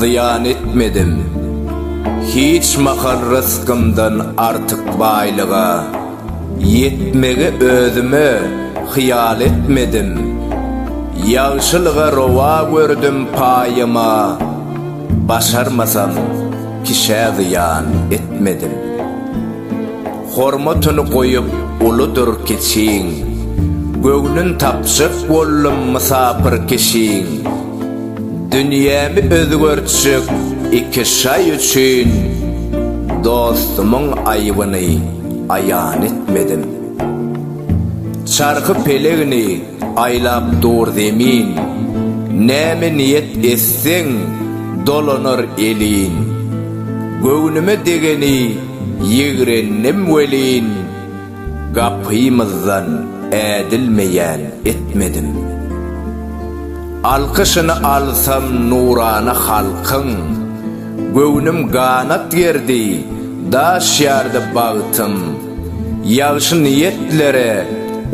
Zyýan etmedim hiç mahal rysgymdan artyk baýlyga, Ýetmegi özüme hyýal etmedim, ýagşylyga rowa gördüm paýyma, Başarmasam kişä zyýan etmedim. Hormatyny goýup uludyr kiçiň. Göwnün tapjak boldum mysapyr kişiň. Dünýämi özgertjek iki şaý üçin. Dostumyň aýbyny aýan etmedim. Çarhy pelegini aýlap dur zemin. Näme niýet etseň dolanar elin. Göwnüme degeni. Ýigrendim welin, gapymyzdan ädilmeýän etmedim. Alkyşyny alsam nurana halkyň, Göwnüm ganat gerdi, daş ýardy bagtym. Ýagşy niýetlere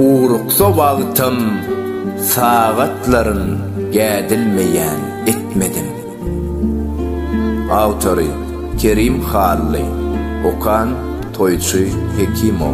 ugruksa wagtym, Sagatlaryn gädilmeýän etmedim. Awtory, Kerim Hally. Okan, Toýçy Hekimow.